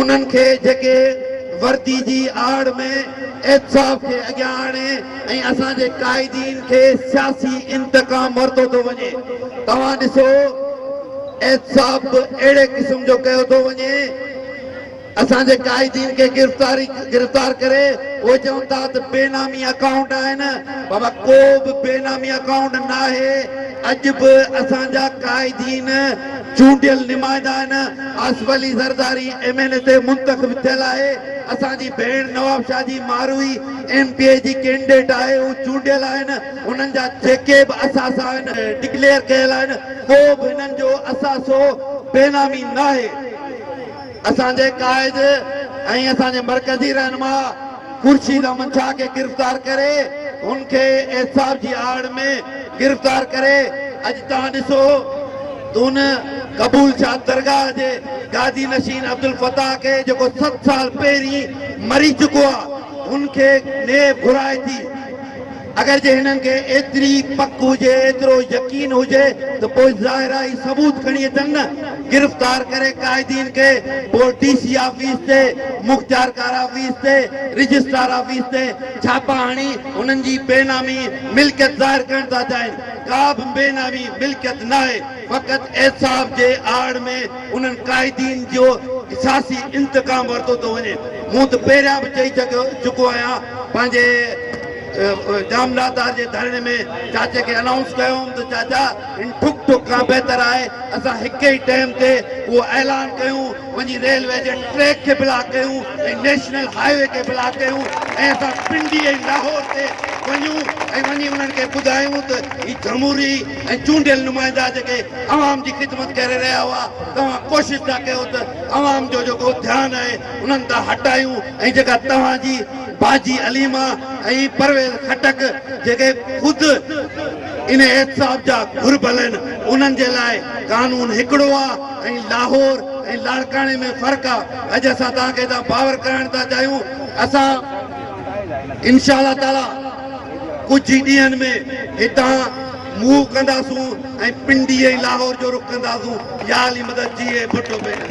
انهن کي جيڪي وردي جي آڙ ۾ احتساب کي اڳيان آڻي ۽ اسان جي قائدين کي سياسي انتقام ورتو ٿو وڃي توهان ڏسو احتساب به اهڙي قسم جو ڪيو ٿو وڃي اسان جي قائدين کي گرفتاري گرفتار ڪري اهي چون ٿا ته بي نامي اڪائونٽ آهن بابا ڪو به بي نامي اڪائونٽ ناهي اڄ به اسان جا قائدين چونڊيل نمائندائن Asif Ali Zardari M N A تي منتخب ٿيل آهي، اسان جي ڀيڻ نوابشاهه جي ماروئي ايم پي اي جي ڪينڊيڊيٽ آهي، هو چونڊيل آهن، انهن جا جيڪي به اثاثا آهن ڊڪليئر ڪيل آهن، ڪو به هنن جو اثاثو بينامي ناهي. اسان جي قائد ۽ اسان جي مرڪزي رهنما خورشيد احمد شاهه کي گرفتار ڪري هن کي احتساب جي آڙ ۾ گرفتار ڪري اڄ توهان ڏسو ته ان قبول شاد درگاهه جي گادي نشين عبدالفتاح کي جيڪو ست سال پهرين مري چڪو آهي هن کي نيب گهرائي ٿي. اگر جي هنن کي ايتري پڪ هجي، ايترو يقين هجي ته پوء ظاهر آهي هي ثبوت کڻي اچن نه، گرفتار ڪري قائدين کي پوء ڊي سي آفيس تي، مختيارڪار آفيس تي، رجسٽرار آفيس تي ڇاپا هڻي هنن جي بي نامي ملڪيت ظاهر ڪرڻ ٿا چاهين، ڪا به بي نامي ملڪيت ناهي. فقط احتساب جي آڙ ۾ انهن قائدين جو سياسي انتقام ورتو ٿو وڃي. مون ته پهريان به چئي چڪو آهيان پنهنجي ڄاملاتار جي ڌرڻي ۾ چاچي کي انائونس ڪيو هئم ته چاچا هن ٺڪ ٺڪ کان بهتر آهي اسان هڪ ئي ٽئم تي اهو اعلان ڪيون وڃي ريلوي جي ٽريڪ کي بلاڪ ڪيون ۽ نيشنل هاء وي کي بلاڪ ڪيون ۽ اسان پنڊي ۽ لاهور تي وڃون ۽ وڃي انهن کي ٻڌايون ته هي جمهوري ۽ چونڊيل نمائندا جيڪي عوام جي خدمت ڪري رهيا هئا توهان ڪوشش ٿا ڪيو ته عوام جو جيڪو ڌيان آهي انهن تان هٽايون ۽ جيڪا توهان جي باجي عليما ۽ پرويز خٽڪ جيڪي خود ان احتساب جا گهربل آهن انهن جي لاء قانون هڪڙو آهي ۽ لاهور ۽ لاڙڪاڻي ۾ فرق آهي اڄ اسان توهان کي هتان باور ڪرائڻ ٿا چاهيون اسان انشاء الله تعاليٰ ڪجهه ئي ڏينهن ۾ هتان منهن ڪنداسون ۽ پنڊي ۽ لاهور جو رخ ڪنداسون. يا علي مدد جيئي ڀٽو مينن.